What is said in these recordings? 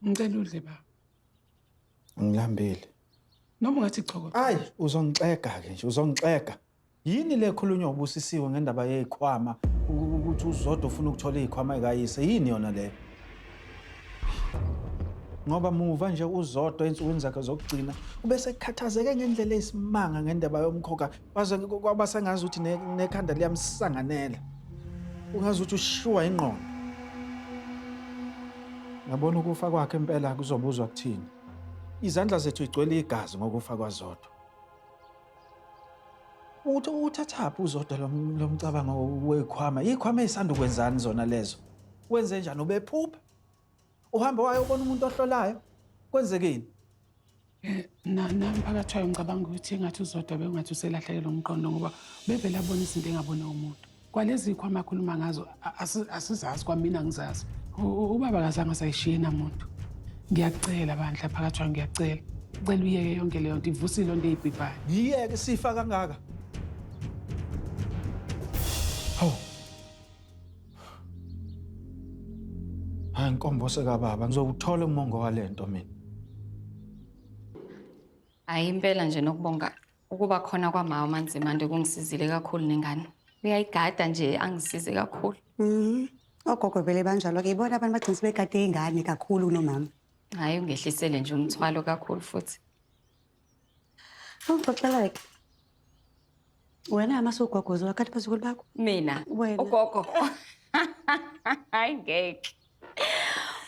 Ngicela udle ba. Ngilambile. Noma ungathi choko. Ayi, uzongixega ke nje, uzongixega. Yini le khulunywa ubusisiwe ngendaba yezikhwama ukuthi uzodwa ufuna ukuthola izikhwama ekayise? Yini yona le? Ngoba muva nje uzodwa ensukwini zakhe zokugcina ubese khathazeke ngendlela esimanga ngendaba yomkhokha Waze kwaba sengazi ukuthi ne- nekhanda liyamsanganela. Ungazi ukuthi ushiwa ingqondo. Ngabona ukufa kwakhe impela kuzobuzwa kuthini. Izandla zethu igcwele igazi ngokufa kwaZodwa. Uthi uthathaphi uZodwa lo m- lo mcabango wekhwama? Ikhwama eyisanda ukwenzani zona lezo? Wenze njani ubephupha? Uhamba wayobona umuntu ohlolayo? Kwenzekeni? Eh, nami phakathi wayo ngicabanga ukuthi engathi uzodwa bekungathi uselahlekelwe umqondo ngoba bevele abona izinto engabone umuntu kwalezi kho amakhuluma ngazo asizazi kwamina ngizazi ubaba kazange asayishiye namuntu ngiyakucela bandla phakathi wayo ngiyakucela cela uyeke yonke leyo nto ivusile onto eyibhibhayo ngiyeke sifa kangaka Hayi nkombo sekababa ngizowuthola umongo walento mina. Hayi impela nje nokubonga ukuba khona kwamawa amanzimande kungisizile kakhulu nengane. Uyayigada nje angisize kakhulu. Mhm. Ogogo vele banjalo ke ibona abantu bagcina sebegade ingane kakhulu kunomama. Hayi ungehlisele nje umthwalo kakhulu futhi. Awuxoxela ke. Wena amase ugogozo wakhathi phezu kwelibakho. Mina. Wena. Ugogo. Hayi ngeke.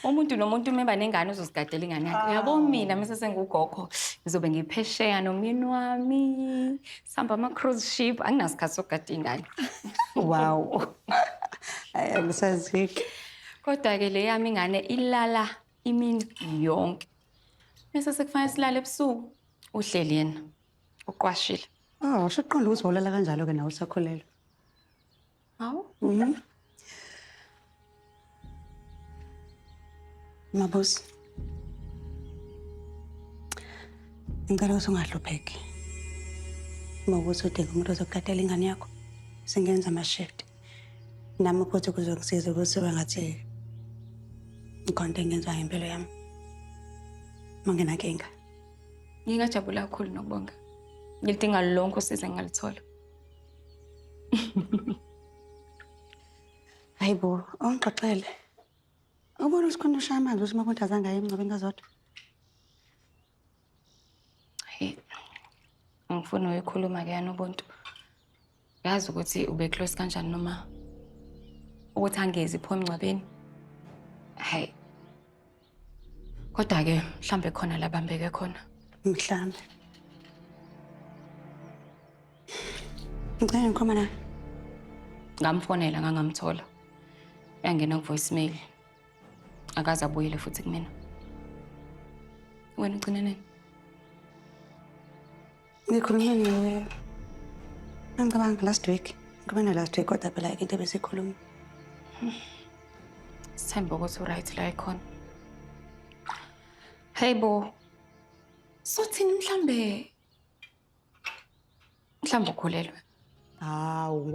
Umuntu nomuntu uma eba nengane uzozigadela ingane yakhe. Uyabo ah. mina mase sengugogo ngizobe ngiphesheya nomyeni wami. Sihamba ama cruise ship anginasikhathi sokugada ingane. Wow. Ayisaziki. Kodwa ke le yami ingane ilala imini yonke. Bese sekufanele silale ebusuku. Uhleli yena. Uqwashile. Ah, washo uqonda ukuthi wawulala kanjalo ke nawe usakhulelwe. Hawu? Mhm. Mabusi. Ngicela ukuthi ungahlupheki. Uma ukuthi udinga umuntu ozokukatela ingane yakho, singenza ama-shift. nami futhi kuzongisiza ukuthi bangathi ngikhonto engenziwa ngempilo yami uma nginankinga ngingajabula kakhulu nokubonga ngilidinga lonke usize ngingaluthola hayi bo awungixoxele ubona ukuthi khona ushaya amanzi ukuthi uma kuntu azange aye emngcwabeni kazodwa Hey, angifuni uyikhuluma ke yana ubuntu. Yazi ukuthi ube close kanjani noma ukuthi angezi pho emngcwabeni. Hey. Kodwa ke mhlambe khona labambeke khona. Mhlambe. Ngicela ngikhoma la. Ngamfonela ngangamthola. Yangena ku voicemail. akaze abuyele futhi kumina wena ugcine nini ngikhulume nawe angicabanga last week ngikhulume na last week kodwa phela into ebesikhuluma sithembe ukuthi uright la ikhona hey bo sothini mhlambe mhlambe ukhulelwe hawu